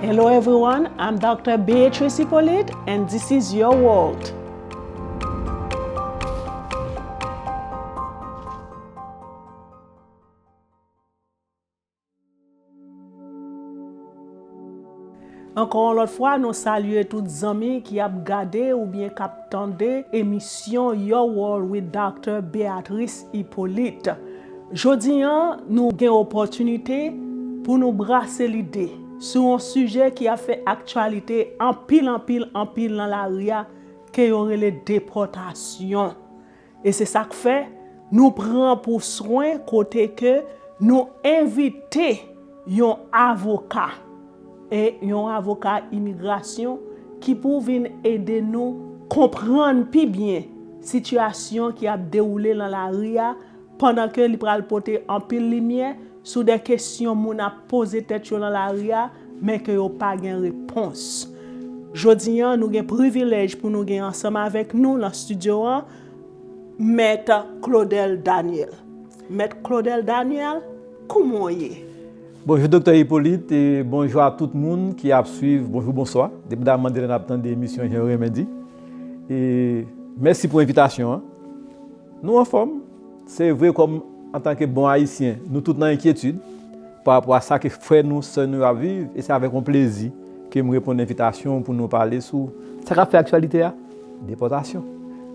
Hello everyone, I'm Doctor Beatrice Hyppolite and this is your world. Ankò yon lòt fwa nou salye tout zanmi ki ap gade oubyen k ap tande emisyon Your World with Doctor Beatrice Hyppolite. Jodi a, nou gen opòtinite pou nou brase lide sou yon sijè ki ap fè aktyalite anpil anpil anpil nan lari a ke yo rele depòtasyon. E se sa k fè nou pran pou swen kote ke nou envite yon avoka e yon avoka imigrasyon ki pou vin ede nou konprann pi byen sitiyasyon ki ap dewoule nan lari a, pandan ke li pral pote anpil limyè sou de kesyon moun ap poze tèt yo nan lari a, men ke yo pa gen repons. Jodi an, nou gen privilèj pou nou gen ansanm avèk nou nan studio an, Mèt Claudel Daniel. Mèt Claudel Daniel, kouman w ye? Bonjou Doktè Hyppolite e bonjou a tout moun ki ap swiv, bonjou, bonswa, depi da Mandela n ap tande emisyon jan yo renmen di. E mèsi pou envitasyon an. Nou anfòm? Se vre kòm antanke bon Ayisyen, nou tout nan enkyetid pa rapò a sa ke frè nou, sè nou yo ap viv e se avèk yon plezi ke m reponn envitasyon w pou nou pale sou sa k ap fè aktyalite a, depòtasyon.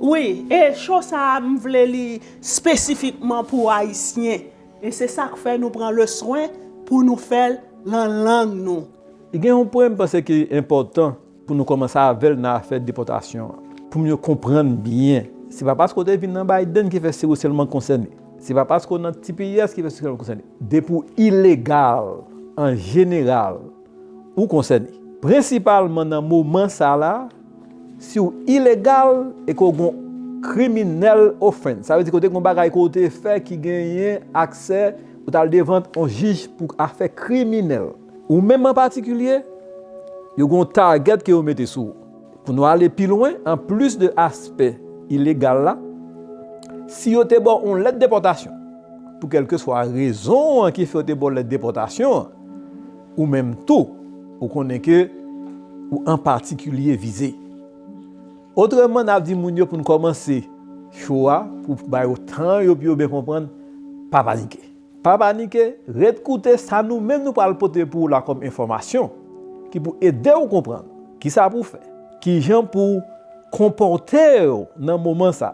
Wi, e show sa a m vle li spesifikman pou Ayisyen e se sa k fè nou pran leswen pou nou fè l lan lang nou. Gen yon pwen m panse ki enpòtan Pou nou komanse avèl nan afè depòtasyon an. Poum yo konprann byen. Se pa paske w te vin nan Biden ki fè se ou sèlman k konsène. Se pa paske w nan tps ki fè se ou sèlman k konsène. Depi w ilegal, an jeneral, ou konsène. Prensipalman nan moman sa la, si w ilegal e ke w gon criminal offense, sa vle di ke w te gon bagay ke w te fè ki genyen aksè pou w tal devan on jij pou afè kriminèl. Ou menm an patikilye, yo gen yon target ke yo mete sou ou. Pou nou ale pi lwen, an plis de aspè ilegal la, si yo te ba w yon lèt depòtasyon, pou kèlkeswa rezon an ki fè yo te ba w lèt depòtasyon an, ou menm tou, ou konnen ke ou an patikilye vize. Otreman, n ap di moun yo pou n kòmanse show a, pou bay yo tan yo pou yo byen konprann, pa panike. Pa panike, ret koute sa nou menm nou pral pote pou ou la kòm enfòmasyon ki pou ede ou konprann kisa pou w fè, kijan pou w konpòte w nan moman sa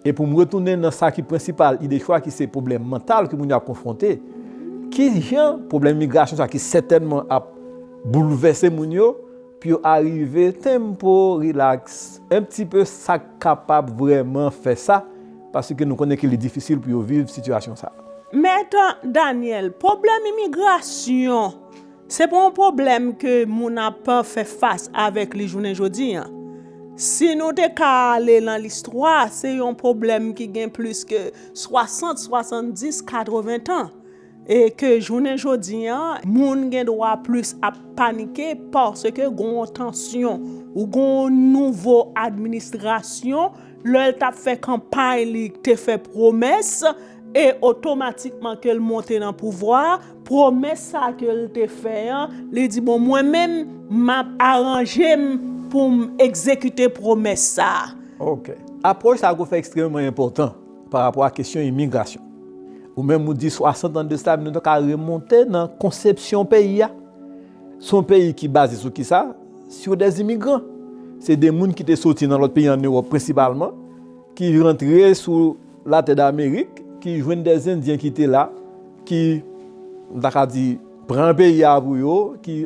e pou m retounen nan sa ki prensipal ide chwa ki se pwoblèm mantal ke moun yo ap konfwonte, kijan pwoblèm imigrasyon sa ki sètènman ap boulvèse moun yo. Pou yo arive tempo relax un petit peu sak kapab vreman fè sa paske nou konnen ke li difisil pou yo viv sitiyasyon sa. Mèt Daniel, pwoblèm imigrasyon se pa yon pwoblèm ke moun ap fè fas avèk li jounen jodi an. Si nou te ka ale lan listwa se yon pwoblèm ki gen plis ke 60, 70, 80 tan. E ke jounen jodi an, moun gen dwa plis ap panike paske gen yon tansyon ou gen yon nouvo administrasyon, lè l t ap fè kanpay li te fè pwomès e otomatikman ke l monte nan pouvwa a, pwomès sa ke l te fè an, li di bon mwen menm m ap aranje m pou m egzekite pwomès sa a. Ok. Apwòch sa a ko fè ekstrèmeman enpòtan. pa rapò a kesyon imigrasyon. Ou menm ou di 60 an de sa, nou ta ka remonte nan konsepsyon peyi a. Se yon peyi ki baze sou ki sa? Sou de imigran. Se de moun ki te soti nan lòt peyi an Ewòp prensipalman, ki rantre sou latè d'Amerik, ki jwenn de Endyen ki te la, ki, nou ta ka di, pran peyi a pou yo, ki...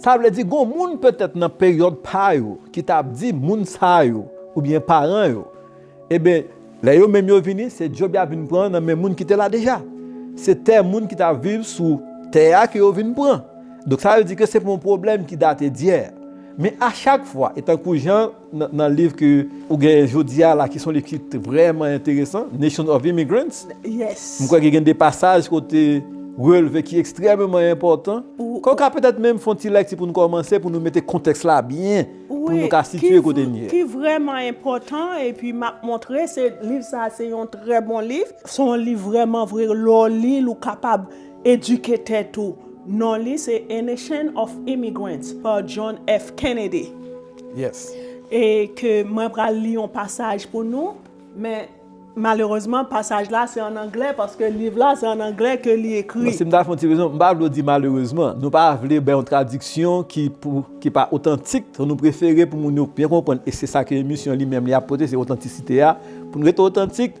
Sa vle di gon moun petèt nan peryòd pa yo ki ta ap di moun sa yo oubyen paran yo, eben lè yo menm yo vini se djob ya vin pran nan men moun ki te la deja. Se tè moun ki ta viv sou tè ya ke yo vin pran. Donk sa vle di ke se pou yon pwoblèm ki date dyè. Men a chak fwa e tankou jan. Nan liv ke ou genyen jodi a la ki son liv ki vrèman enteresan, Nation of Immigrants, m kwè ke gen de pasaj ke w te relve ki ekstrèmeman enpòtan. Ke w ka petèt menm fè yon ti lèkti pou nou kòmanse, pou nou mete kontèks la byen, pou nou ka sitye kote n ye. Ki vrèman enpòtan, epi m ap montre, se liv sa a se yon trè bon liv. Se yon liv vrèman vre, lè w li l ou kapab. Edike tèt ou! Non li se A Nation of Immigrants pa John F. Kennedy. Yes. E ke mwen pral li yon pasaj pou nou, men malerezman pasaj la se an anglè paske liv la se an anglè ke li ekri. Bon si m ta fè yon ti rezon, m pa vle w di malerezman. Nou pa vle bay yon tradiksyon ki pou, ki pa otantik. Donk nou prefere pou moun yo byen konprann e se sa ke emisyon li menm li ap pote se otantisite a. Pou nou rete otantik.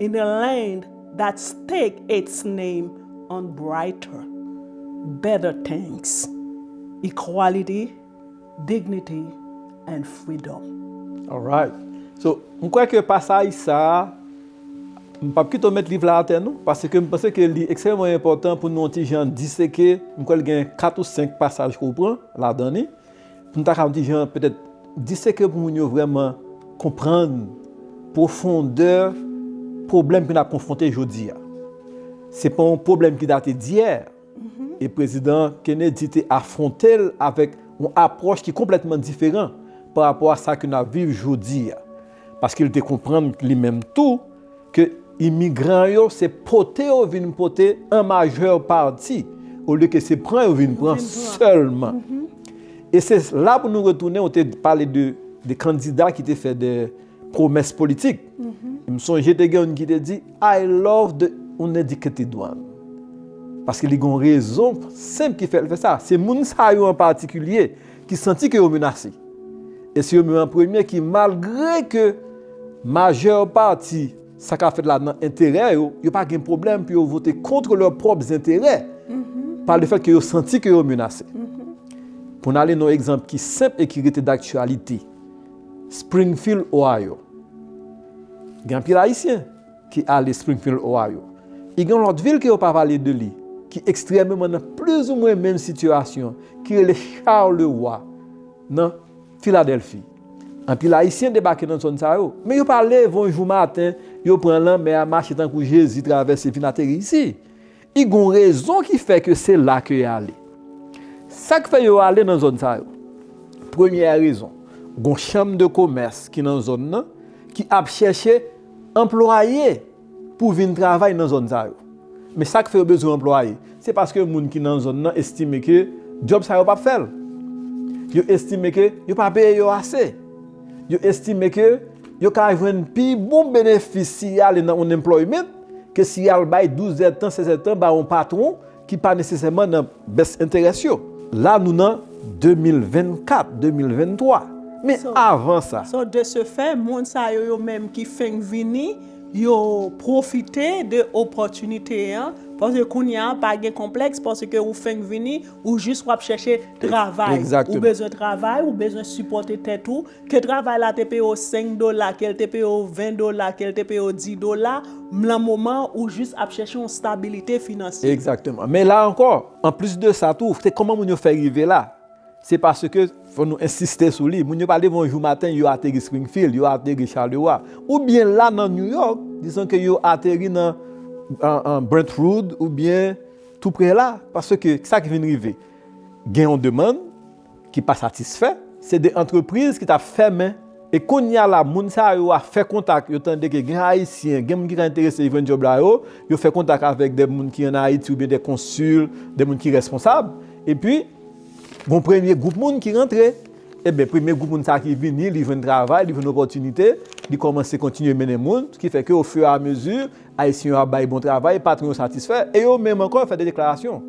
In the land that stake its name on brighter, better things, equality, dignity and freedom. Alright. So, m kwè ke pasaj sa a, m pap kite w met liv la atè non, paske m panse ke li ekstrèmman enpòtan pou nou yon ti jan diseke, m kwè l gen 4 ou 5 pasaj ke w pran ladan li. Pou nou ta ka yon ti jan petèt diseke pou moun yo vrèman konprann pwofondè pwoblèm ke n ap konfwonte jodi a. Se pa yon pwoblèm ki date dyè, e Prezidan Kennedy te afwonte l avèk yon apwòch ki konplètman diferan pa rapò a sa ke n ap viv jodi a. paske li te konprann li menm tou ke imigran yo se pote yo vin pote an majè pati olye ke se pran yo vin pran sèlman. E se la pou nou retounen ou te pale de kandida ki te fè de pwomès politik. M sonje te gen youn ki te di, I love the uneducated one. Paske li gen yon rezon senp ki fè l fè sa. Se moun sa yo an patikilye. ki santi ke yo menase. E se yo menm an premye ki malgre ke majè pati sa ka fèt la nan enterè yo, yo pa gen pwoblèm pou yo vote kontre lè pwòp zenterè pa le fèt ke yo santi ke yo menase. Pou n ale nan yon egzanp ki senp e ki rete daktyalite, Springfield, Ohio. Gen anpil Ayisyen. ki ale Springfield, Ohio. E gen yon lòt vil ke yo pa pale de li, ki ekstrèmeman nan plizoumwen menm sitiyasyon, ki rele Charleroy, nan Filadèlfi. Anpil Ayisyen debake nan zòn sa yo, men yo pa leve yon jou maten, yo pran lanmè a, mache tankou Jezi travèse vin ateri isi. I gon rezon ki fè ke se la ke y ale. Sa k fè yo ale nan zòn sa yo? Premyè rezon, gon chanm de komès ki nan zòn nan ki ap chèche anplwaye pou vin travay nan zòn sa yo. Men sa k fè yo bezwen anplwaye? Se paske moun ki nan zòn nan estime ke djòb sa yo p ap fè l. Yo estime ke yo pa peye yo ase. Yo estime ke Yo ka jwenn pi bon benefis si y ale nan unemployment ke si y al bay 12 zèd tan, 16 zèd tan ba yon patwon ki pa nesesèman nan bès enterès yo. La nou nan 2024, 2023. Men avan sa. So de se fè, moun sa yo yo menm ki fenk vini, yo pwofite de opòtinite an, paske kounye a pa gen konplèks paske ou fenk vini, ou jis w ap chèche travay. Ou bezwen travay, ou bezwen sipòte tèt ou. Ke travay la te peye w 5 dola, ke l te peye w 20 dola, ke l te peye w 10 dola, m lan moman an ou jis ap chèche yon stabilite finansye. Egzakteman. Men la ankò, anplis de sa tou, se kòman moun yo fè rive la. Se paske, fò nou ensiste sou li, moun yo pa leve yon jou maten yo ateri Springfield, yo ateri Charleroi. Oubyen la nan New York, dizon ke yo ateri nan Brentwood oubyen tou pre la. Paske, sa ki vin rive? Gen yon demann. ki pa satisfè, se de antrepriz ki tap fèmen, e kounya la moun sa yo a fè kontak, yo tande ke gen ayisyen, gen moun ki ka enterese jwenn djòb la yo, yo fè kontak avèk de moun ki an Ayiti oubyen de konsil, de moun ki responsab, epi gon premye gwoup moun ki rantre, eben premye gwoup moun sa ki vini, li jwenn travay, li jwenn opòtinite, li kòmanse kontinye mennen moun, ki fè ke o fiu a mezi, Ayisyen yo ap bay bon travay, patwon yo satisfè e yo menm ankò fè de deklarasyon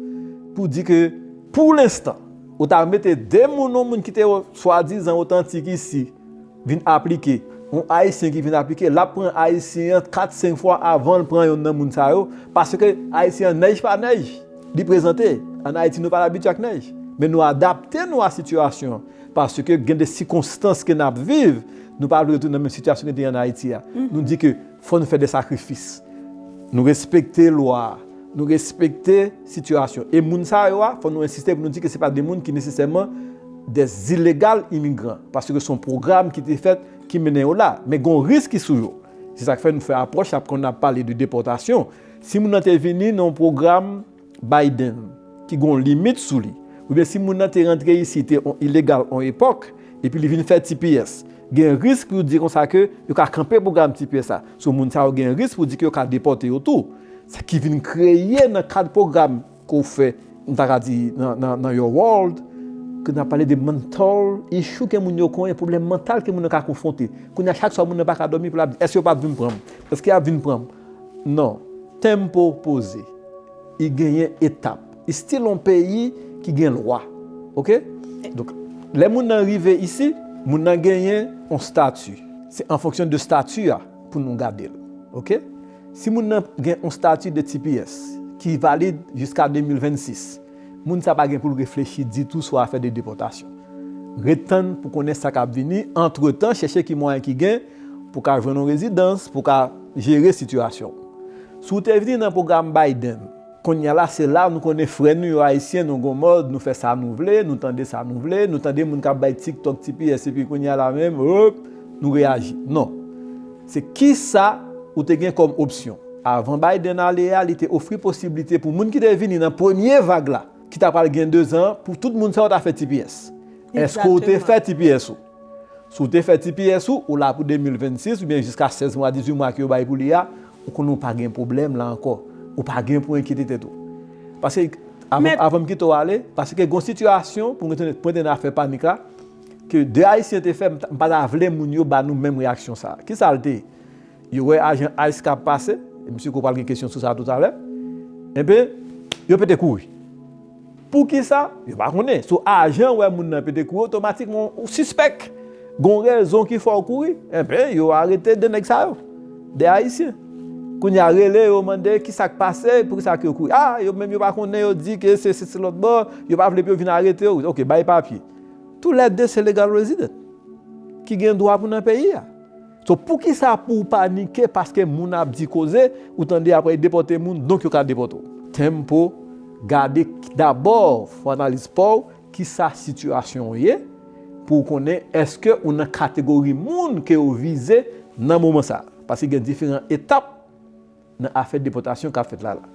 pou di ke pou lenstan ou ta mete de moun yon moun ki te swadizan otantik isi vin aplike, yon Ayisyen ki vin aplike l ap pran Ayisyen an kat senk fwa avan l pran yonn nan moun sa yo paske Ayisyen an nèj pa nèj li prezante. An Ayiti nou pa abitye ak nèj men nou adapte nou a sitiyasyon an paske gen de sikonstans ke n ap viv nou pa vle retounen nan menm sitiyasyon ki te an Ayiti a nou di ke Fò nou fè de sakrifis. Nou respekte lwa, nou respekte sitiyasyon. E moun sa yo a, fò nou ensiste pou nou di ke se pa de moun ki nesesèman de zilegal imigran. Paske se yon pwogram ki te fèt ki mennen yo la. Men gen yon risk ki sou yo. Se sa k fè nou fè apwòch la pou kon ap pale de depòtasyon. Si moun nan te vini nan yon pwogram. Biden ki gen yon limit sou li. Oubyen si moun nan te rantre isi te yon ilegal yon epòk, epi li vin fè tps, gen risk pou yo di konsa ke yo ka kanpe pwogram tps la. So moun sa yo gen risk pou di ke yo ka depòte yo tou. Sa ki vin kreye nan kad pwogram ke w fè, m ta ka di nan your world, ke nan pale de mental issue ke moun yo konyen, pwoblèm mantal ke moun nan ka konfwonte. Kounye a chak swa moun nan pa ka dòmi pou l ap di, èske yo pa p vin pran m? Èske y ap vin pran m? Non. Tempo poze. I genyen etap. Istil yon peyi ki gen lwa. Ok? Donk, lè moun nan rive isi, moun nan genyen yon stati. Se an fonksyon de stati a pou nou gade l. Ok? Si moun nan gen yon stati de tps ki valid jiska 2026. Moun sa pa gen pou l reflechi ditou sou afè de depòtasyon. Ret tann pou konnen sa k ap vini, antretan chèche ki mwayen ki gen pou w ka jwenn yon rezidans, pou w ka jere sitiyasyon w. Si w te vini nan pwogram Biden, konnya la se la nou konnen frè nou yo Ayisyen nou gon mòd nou fè sa nou vle, nou tande sa nou vle, nou tande moun k ap bay tiktok, tps epi konnya la menm, oop, nou reyaji. Non. Se kisa ou te gen kòm opsyon? Avan Biden ale a, li te ofri posiblite pou moun ki te vini nan premye vag la, ki ta pral gen 2 zan, pou tout moun sa yo ta fè tps. Èske ou te fè tps ou? Si w te fè tps ou, ou la pou 2026 oubyen jiska 16 mwa, 18 mwa ke yo bay pou li a, ou konnen ou pa gen pwoblèm la ankò. Ou pa gen pou enkyete tèt ou. Paske, avan m kite w ale, paske gen yon sitiyasyon, pou mwen te nan afè panik la, Ke 2 ayisyen te fè m pa ta vle moun yo ba nou menm reyaksyon sa. Kisa l te? Yo wè ajan ice k ap pase, e m si ke w pral gen kesyon sou sa toutalè, enben, yo pete kouri. Poukisa? Yo pa konnen. So ajan an wè moun nan pete kouri otomatikman ou sispèk gon rezon ki fè w kouri. Enben, yo arete 2 nèg sa yo. 2 ayisyen. Kounye a rele yo mande kisa k pase, poukisa ke yo kouri. A! Yo menm yo pa konnen, yo di ke se se lòt bò, yo pa vle pou yo vin arete w. Ok, bay papye. Tou lè 2 se legal resident. Ki gen dwa pou nan peyi a. So pou ki sa pou panike paske moun ap di koze, ou tande apre y depote moun, donk yo ka depote w. Tempo, Gade dabò, fè analiz pa w, ki sa sitiyasyon w ye, pou w konnen eske ou nan kategori moun ke yo vize nan moman sa. Paske gen diferan etap. nan afè depòtasyon kap fèt la la.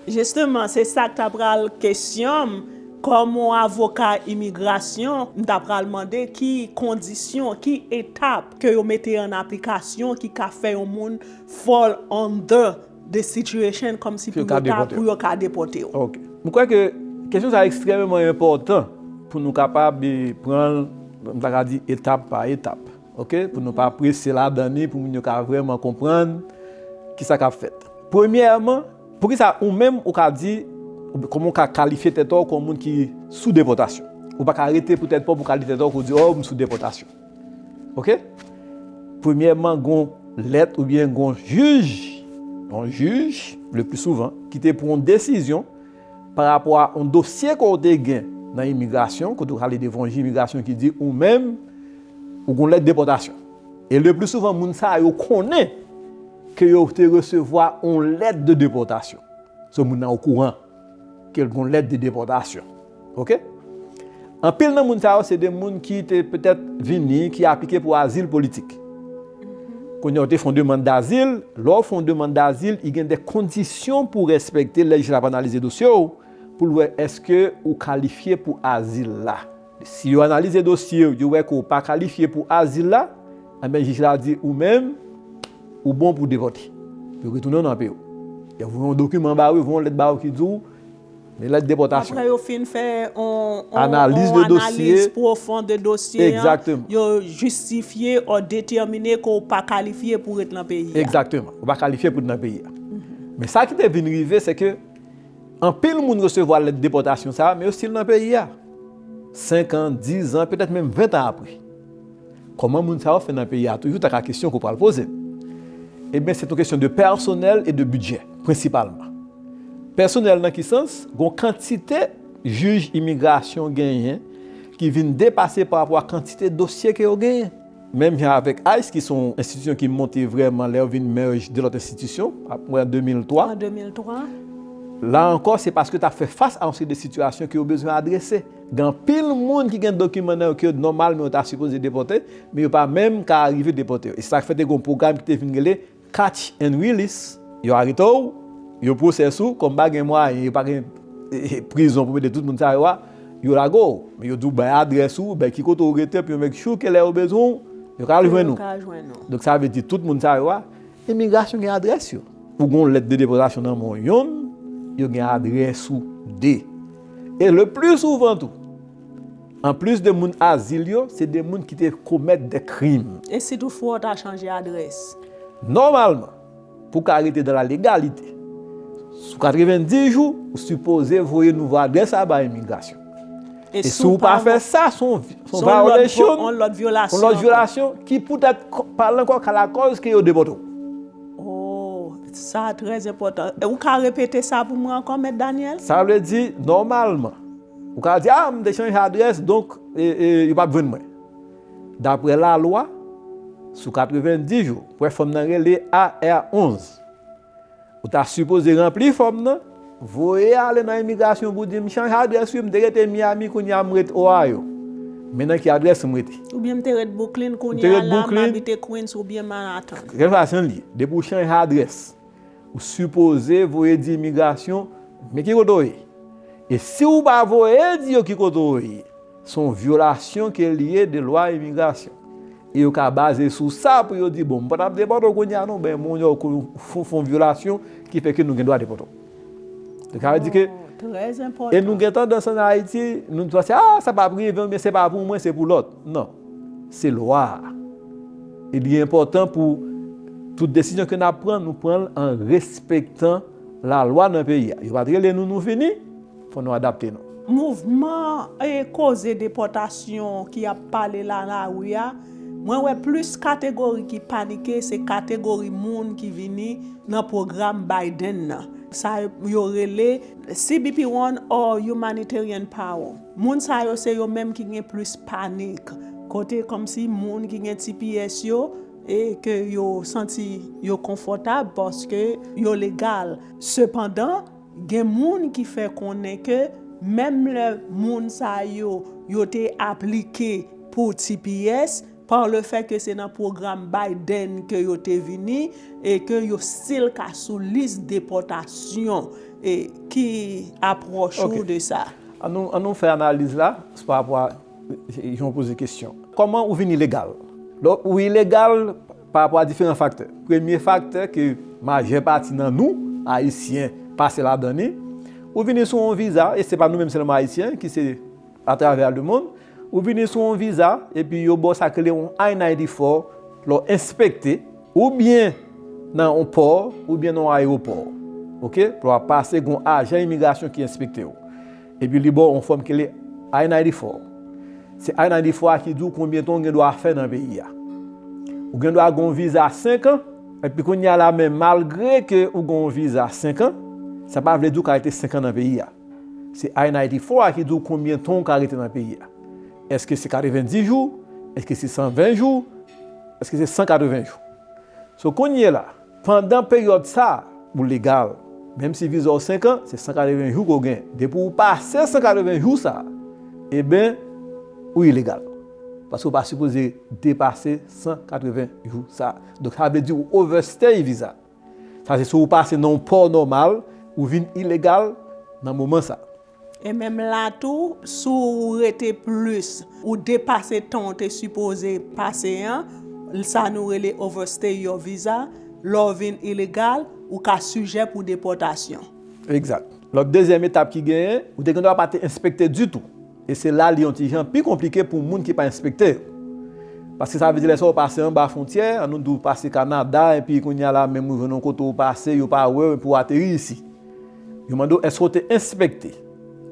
Jisteman se sak ta pral kesyon m kòm on avoka imigrasyon m ta pral mande ki kondisyon ki etap ke yo mete an aplikasyon ki ka fè yon moun fall under this situation kòmsi pou yo ta pou yo ka depòte w. Ok. M kwè ke kesyon sa ekstrèmeman enpòtan pou nou kapab pran l m ta ka di etap pa etap. Ok, pou nou pa prese ladan li, pou moun yo ka vrèman konprann ki sa k ap fèt. Premyèman, pou ki sa ou menm ou ka di, kòman ou ka kalifye tèt ou kòm moun ki sou depòtasyon? Ou pa ka rete pou tèt pa w pou w ka di tèt ou, pou w di, o, m sou depòtasyon. Ok? Premyèman, gen yon lèt oubyen gen yon jij, yon jij, le pli souvan, ki te pran yon desizyon, pa rapò a yon dosye ke w te gen nan imigrasyon, kote w ale devan yon jij imigrasyon ki di ou menm ou gen yon lèt depòtasyon. E le pli souvan moun sa yo konnen ke yo te resevwa yon lèt de depòtasyon. So moun nan okouran ke l gen yon lèt de depòtasyon. Ok? Anpil nan moun sa yo se de moun ki te petèt vini, ki aplike pou azil politik. Kounye a ou te fè yon demann dazil, lè ou fè yon demann dazil, i gen de kondisyon pou respekte lè jij la ap analize dosye ou, pou l wè èske ou kalifye pou azil la. Si yo analize dosye ou, yo wè ke ou pa kalifye pou azil la, enben jij la di ou menm, ou bon pou depòte. Yo retounen ou nan peyi ou. Yo voye yon dokiman ba ou, yo voye yon lèt ba ou ki di ou, Yon lèt depòtasyon. Aprè yo fin fè yon analiz pwofon de dosye an, yo jistifye ou detèmine ke ou pa kalifye pou ret nan peyi a. Egzakteman. Ou pa kalifye pou ret nan peyi a. Men sa ki te vin rive, se ke anpil moun resevwa lèt depòtasyon sa a, men yo stil nan peyi a. Senkan, dizan, petèt menm ventan apre. Kòman moun sa yo fè nan peyi a toujou ta ka kesyon ke w pral poze. Ebyen se t yon kesyon de pèsonèl e de bidjè prensipalman. Pèsonèl nan ki sans? Gon kantite jij imigrasyon genyen ki vin depase pa rapò a kantite dosye ke yo genyen. Menm jan avèk ice ki se yon enstitisyon ki monte vrèman lè yo vin merge 2 lòt enstitisyon a pwen an 2003. La ankò se paske ta fè fas a yon seri de sitiyasyon ke yo bezwen adrese. Gen anpil moun ki gen dokiman nan yo ke yo nòmalman yo ta sipoze depòte, men yo pa menm ka arive depòte yo. E se sa k fè te gen yon pwogram ki te vin rele Catch and Release. Yo arete w, yo pwosese w, kòm pa gen mwayen, yo pa gen prizon pou mete tout moun sa yo a, yo lage w. Men yo di w bay adrès ou, bay ki kote ou rete, epi yo make sure ke lè yo bezwen w, yo ka al jwenn ou. Donk sa vle di tout moun sa yo a. Imigrasyon gen adrès yo. Pou gen yon lèt de depòtasyon nan men w yonn, yo gen adrès ou de. E le pli souvan tou, anplis de moun azil yo, se de moun ki te komèt de krim. E si tou fwa w ta chanje adrès? Nòmalman, pou w ka rete dan la legalite, sou 90 jou, ou sipoze voye nouvo adrès la bay imigrasyon. E si w pa fè sa, se yon vyolasyon, yon lòt vyolasyon, ki poutèt pa al nan kò ka lakòz ke yo depòte w. Sa trè enpòtan. Ou ka repete sa pou mwen ankò, Mèt Daniel? Sa vle di, nòmalman, ou ka di, a, m te chanje adrès, donk, yo p ap jwenn mwen. Daprè lalwa, sou 90 jou, pou fòm nan rele AR-11. Ou ta sipoze ranpli fòm nan, voye ale nan imigrasyon pou di m chanje adrès wi m te rete Miami kounye a m ret Ohio. Men nan ki adrès m rete. Oubyen m te ret Brooklyn kounye a la m abite Queens oubyen Manhattan. Kèlkeswa jan l ye, depi ou chanje adrès, ou sipoze voye di imigrasyon men ki kote ou ye. E si ou pa voye di yo ki kote ou ye. Se yon vyolasyon ke li ye de lwa imigrasyon. E yo ka baze sou sa pou yo di, bon, m pa ta depòte w kounye a non, men moun yo fè yon vyolasyon ki fè ke nou gen dwa depòte w. Yo ka di ke, e nou gen tandans an Ayiti, nou di, a, sa pa ap rive m, men se pa pou mwen, se pou lòt. Non. Se lwa a. E li enpòtan pou tout desizyon ke n ap pran, nou pran l an respektan lalwa nan peyi a. Yo pa te rele nou, nou fini. Fò nou adapte nou. Mouvman e koze depòtasyon ki ap pale la lari a, mwen wè plis kategori ki panike se kategori moun ki vini nan pwogram Biden nan, sa yo rele CBP-One or Humanitarian Parole. Moun sa yo se yo menm ki gen plis panik, kote kòmsi moun ki gen tps yo e ke yo santi yo konfòtab paske yo legal. Sepandan. Gen moun ki fè konnen ke menm lè moun sa yo yo te aplike pou tps, par le fait ke se nan pwogram Biden ke yo te vini e ke yo stil ka sou lis depòtasyon. Ki apwòch ou de sa? An nou fè analiz la pa rapò a jan ou poze kesyon. Kòman ou vin ilegal? Lè ou ilegal, Pa rapò a diferan faktè. Premye faktè ke majè pati nan nou, Ayisyen, pase ladan li, ou vini sou yon viza, e se pa nou menm sèlman Ayisyen ki se atravè lemonn, ou vini sou yon viza, epi yo ba w sa yo rele yon I-94, lè w enspekte, oubyen nan yon pò, oubyen nan yon ayewopò. Ok? Lè w ap pase, gen yon ajan imigrasyon ki enspekte w. Epi li baw on fòm ki rele I-94. Se I-94 a ki di w konbyen tan w gen dwa fè nan peyi a. Ou gen dwa gen yon viza 5 an, epi kounye a la men malgre ke ou gen yon viza 5 an, sa pa vle di w ka rete 5 an nan peyi a. Se I-94 a ki di w konbyen tan w ka rete nan peyi a. Eske se 90 jou? Eske se 120 jou? Eske se 180 jou? So kounye la. Pandan peryòd sa, ou legal. Menm si viza w 5 an, se 180 jou ke w gen. Depi w pase 180 jou sa, eben, ou ilegal. Paske w pa sipoze depase 180 jou sa. Donk sa vle di ou overstay viza. Sa se si w pase nan yon pò nòmal, ou vin ilegal nan moman sa. E menm la tou, si ou rete plis, ou depase tan ou te sipoze pase an, sa nou rele overstay your visa, lè w vin ilegal, ou ka sijè pou depòtasyon. Egzat. Lòt dezyèm etap ki genyen, ou te gendwa pa te enspekte ditou. E se la li yon ti jan pi konplike pou moun ki pa enspekte yo. Paske sa vle di lè sa ou pase anba fwontyè, an nou di ou pase Kanada epi kounye a la menm ou jwenn yon kote ou pase, yo pa wè w epi ou ateri isi. Yo mande w èske w te enspekte.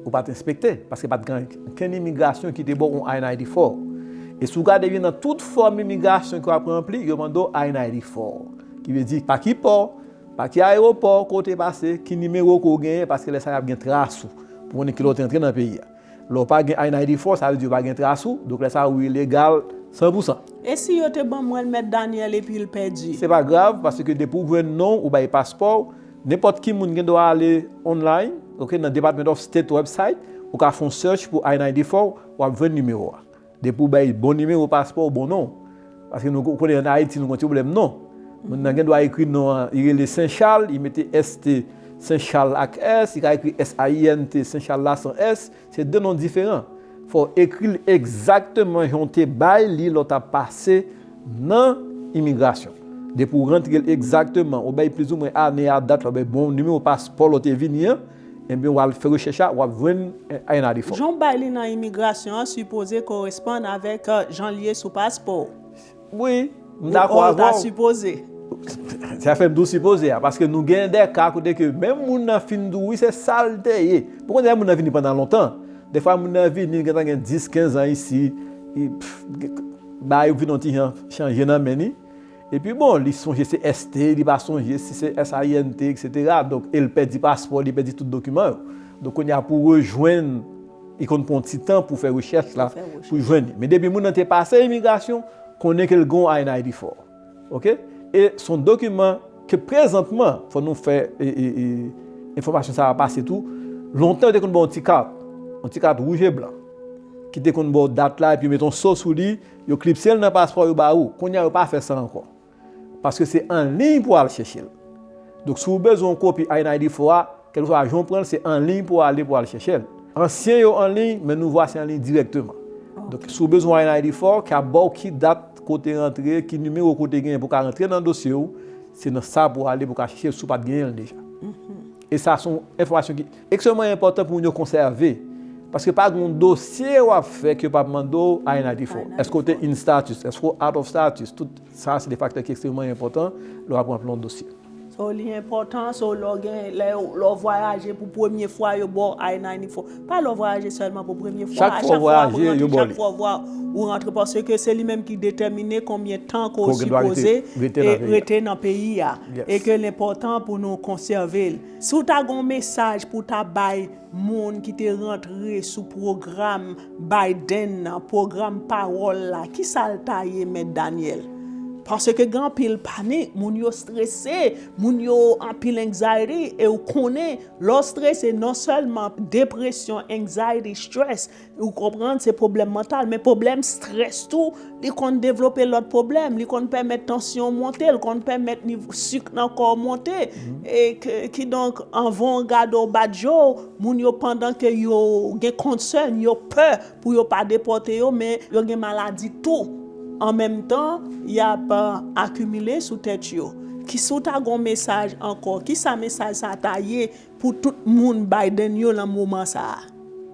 Ou pa t enspekte, paske pa t gen okenn imigrasyon ki te ba w yon I-90 fò. E si w gade byen nan tout fòm imigrasyon ke w ap ranpli, yo mande w I-90 fò. Ki vle di, pa ki pò, pa ki ayewopò ke w te pase, ki nimewo ke w genyen, paske lè sa y ap gen tras ou, pou konnen kilè w te antre nan peyi a. Lè w pa gen INID fò, sa vle di yo pa gen tras ou, donk lè sa ou ilegal san pou san. E si yo te ban mwen l mèt Daniel epi l pèdi? Se pa grav, paske depi ou jwenn non w, ou bay paspò w, nenpòt ki moun gen dwa ale online, ok, nan Department of State website, ou ka fon search pou INID fò w, w ap jwenn nimewo a. Depi w bay bon nimewo paspò w bon non. Paske nou konnen an Ayiti nou gen yon ti pwoblèm non. Moun nan gen dwa ekri non an, li rele Sen Chal, li mete ST, Sen Chal ak S, li ka ekri SAINT, Sen Chal la san S, se 2 non diferan. Fò w ekri l egzakteman jan w te bay li lè w t ap pase nan imigrasyon. Depi w rantre l egzakteman, ou bay plizoumwen ane a dat lè w bay bon nimewo paspò lè w te vini an, Ebyen wal fè rechèch la wap jwenn INAD fo. Jan w bay li nan imigrasyon an sipoze koresponn avèk jan l ye sou paspo w. Wi, m dakò avè w. Ou ta sipoze. Sa fè m di w sipoze a, paske nou gen de ka kote ke menm moun nan fin di w wi se sa l te ye. Ou konnen lè moun nan vini pandan lontan, defwa moun nan vini l gentan gen 10, 15 an isi, bagay yo vin yon ti jan chanje nan men li. Epi bon li sonje se ST li pa sonje si se SINT etc donk el pèdi paspò li pèdi tout dokiman yo donk kounye a pou rejwenn li konn pran yon ti tan pou fè rechèch la pou jwenn li men depi moun nan te pase imigrasyon konnen ke l gen yon INID fò ok e s on dokiman ke prezantman fò nou fè enfòmasyon sa a pase tou lontan yo te konn ba w yon ti kat yon ti kat wouj e blan ki te konn ba w dat la epi yo met yon so sou li Yo klipse l nan paspò yo ba ou. Kounye a yo pa fè sa ankò. Paske se an liy pou al chèche l. Donk si ou bezwen yon kopi INID fo a, kèlkeswa jan ou pran l, se an liy pou ale pou al chèche l. Ansyen yo an liy, men nouvo a se an liy dirèkteman. Donk si ou bezwen yon INID fo, ki ap ba ou ki dat ke w te rantre, ki nimewo ke w te genyen pou w ka rantre nan dosye ou, se nan sa pou w ale pou w ka chèche l si w pa t genyen l deja. E sa se yon enfòmasyon ki. Ekstrèmman enpòtan pou moun yo konsève, paske pa gen yon dosye w ap fè ke yo pa p mande w INID fè w. Èske w te in status? Èske w out of status? Tout sa se de faktè ki ekstrèmman enpòtan lè w ap ranpli yon dosye. So li enpòtan, so lè w gen, lè yo, lè w vwayaje pou premye fwa yo ba w INID fè w. Pa lè w vwayaje sèlman pou premye fwa, a chak fwa ou rantre, chak fwa ou vwa, ou rantre paske se li menm ki detèmine konbyen tan ke w sipoze rete nan peyi a e ke l enpòtan pou nou konsève l. Si w ta gen yon mesaj pou w ta bay moun ki te rantre sou pwogram Biden nan, pwogram pawòl la, ki sa l ta ye Mèt Daniel? Paske gen anpil panik, moun yo strese, moun yo anpil anxiety, e ou konnen lè w strese non sèlman depresyon, anxiety, stress, Ou konprann se pwoblèm mantal men pwoblèm strès tou li konn devlope lòt pwoblèm, li konn pèmèt tansyon monte, li konn pèmèt nivo sik nan kò w monte e kidonk anvan w gade w bat je w, moun yo pandan ke yo gen concern, yo pè pou yo pa depòte yo men yo gen maladi tou an menm tan y ap akimile sou tèt yo. Ki si w ta gen w mesaj ankò, kisa mesaj sa ta ye Pou tout moun Biden yo lan moman sa a.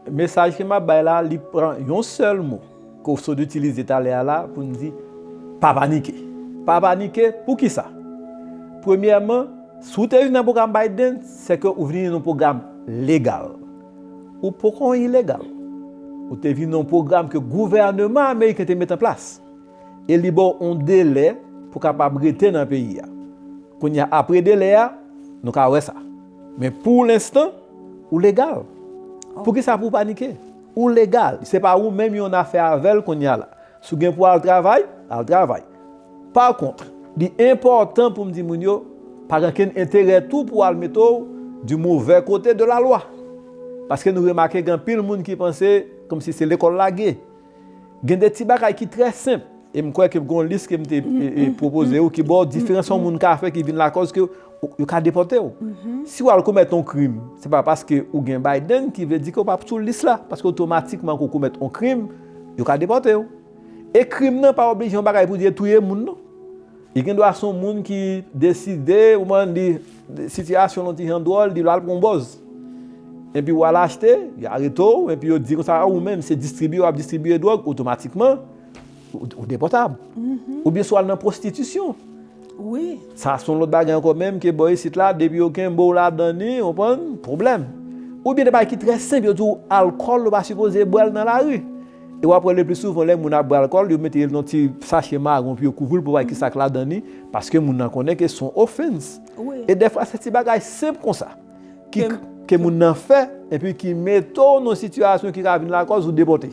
Mesaj ke map bay la li pran yon sèl mo ke w sot itilize talè a la pou n di pa panike. Pa panike poukisa? Premyèman, si w te vini nan pwogram Biden, se ke ou vini nan yon pwogram legal. Ou poko ilegal. Ou te vini nan yon pwogram ke gouvèneman ameriken te mete an plas. e li ba w yon delè pou w kapab rete nan peyi a. Kounye a, apre delè a, nou ka wè sa. Men pou lenstan, ou legal. Poukisa pou w panike? Ou legal. Se pa ou menm yo nan afè avè l kounye a la. Si w gen pou w al travay, al travay. Pa kont, li enpòtan pou m di moun yo, pa gen okenn enterè tou pou w al mete w di movè kote de lalwa. Paske nou remake gen anpil moun ki panse kòmsi se lekòl lage. Gen de ti bagay ki trè senp, e m kwè ke gen yon lis ke m te pwopoze ou ki ba w diferans yon moun ka fè ki vin lakòz ke yo ka depòte w. Si w al komèt yon krim, se pa paske ou gen Biden ki vle di ke ou pa p sou lis la, paske otomatikman ke ou komèt yon krim, yo ka depòte w. E krim nan pa oblije yon bagay pou di e touye moun non. Li gendwa son moun ki deside ou man li sitiyasyon yon ti jan dwòl li lal pran yon bòz. Enpi wal achte, yo arete w, enpi yo di konsa ou menm se distribye wap distribye dwòg otomatikman ou depòtab. Oubyen si wal nan pwostitisyon. Wi. Sa son lòt bagay ankò menm ke bò isit la depi yo kenbe w ladan li ou konprann pwoblèm. Oubyen de bagay ki trè senp yo di w alkòl ou pa sipoze bwèl nan lari. E wap wè le pli souvan lè moun ap bwè alkòl yo mete yon ti sache maron pou yo kouvri l pou yo pa wè ki sak ladan li paske moun nan konnen ke son ofens e dèfwa se ti bagay senp konsa ke moun nan fè epi ki mete w nan sitiyasyon ki ka vin lakòz ou depòte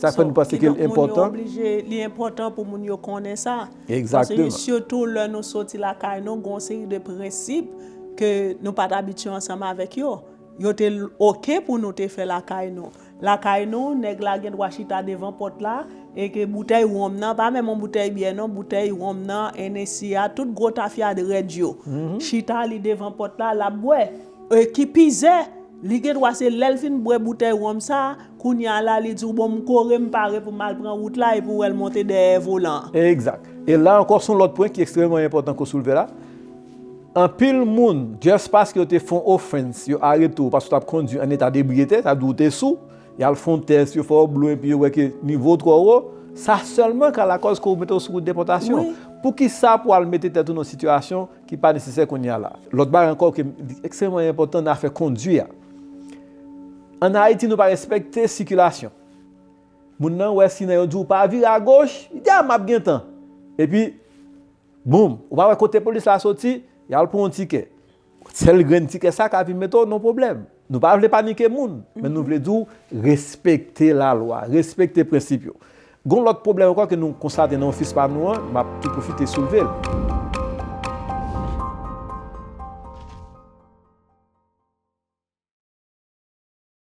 sak fè nou panse ke l enpòtan li enpòtan pou moun yo konnen sa paske sitou lè nou soti lakay nou gon seri de prensip ke nou pat abitye ansanm avèk yo yo te ok pou nou te fè lakay nou. Lakay nou, nèg la gen dwa chita devan pòt la, e ke boutèy wonm nan, pa menm yon boutèy byè non, boutèy wonm nan, Hennessy a, tout gwo tafyad rèd yo, chita li devan pòt la, l ap bwè. E ki pi ze, li gen dwa se lè l fin bwè boutèy wonm sa, kounye a la li di w bon m kore m pare pou m al pran wout la epi w wè l monte dèyè volan an. Egzat. E la ankò s on lòt pwen ki ekstrèmeman enpòtan ke w soulve la. Anpil moun just paske yo te fon offense yo arete w paske w tap kondwi an eta debriyete sa vle di w te sou, yal fon tès yo fè w blo epi yo wè ke nivo w twò wo, sa sèlman ka lakòz ke yo mete w sou wout depòtasyon. Poukisa pou al mete tèt ou nan yon sitiyasyon ki pa nesesè kounye a la. Lòt bagay ankò ke li ekstrèmman enpòtan nan afè kondwi a. An Ayiti nou pa respekte sikilasyon. Moun nan wè sinan yo di w pa vire agoch, li di a map gen tan. Epi. Boom! Ou pa wè kote polis la soti, y al pran w tikè. Sèl grenn tikè sa ka vin mete w nan pwoblèm. Nou pa vle panike moun, men nou vle di w respekte lalwa, respekte prensip yo. Gen yon lòt pwoblèm ankò ke nou konstate nan ofis pa nou an, m ap tou pwofite soulve l.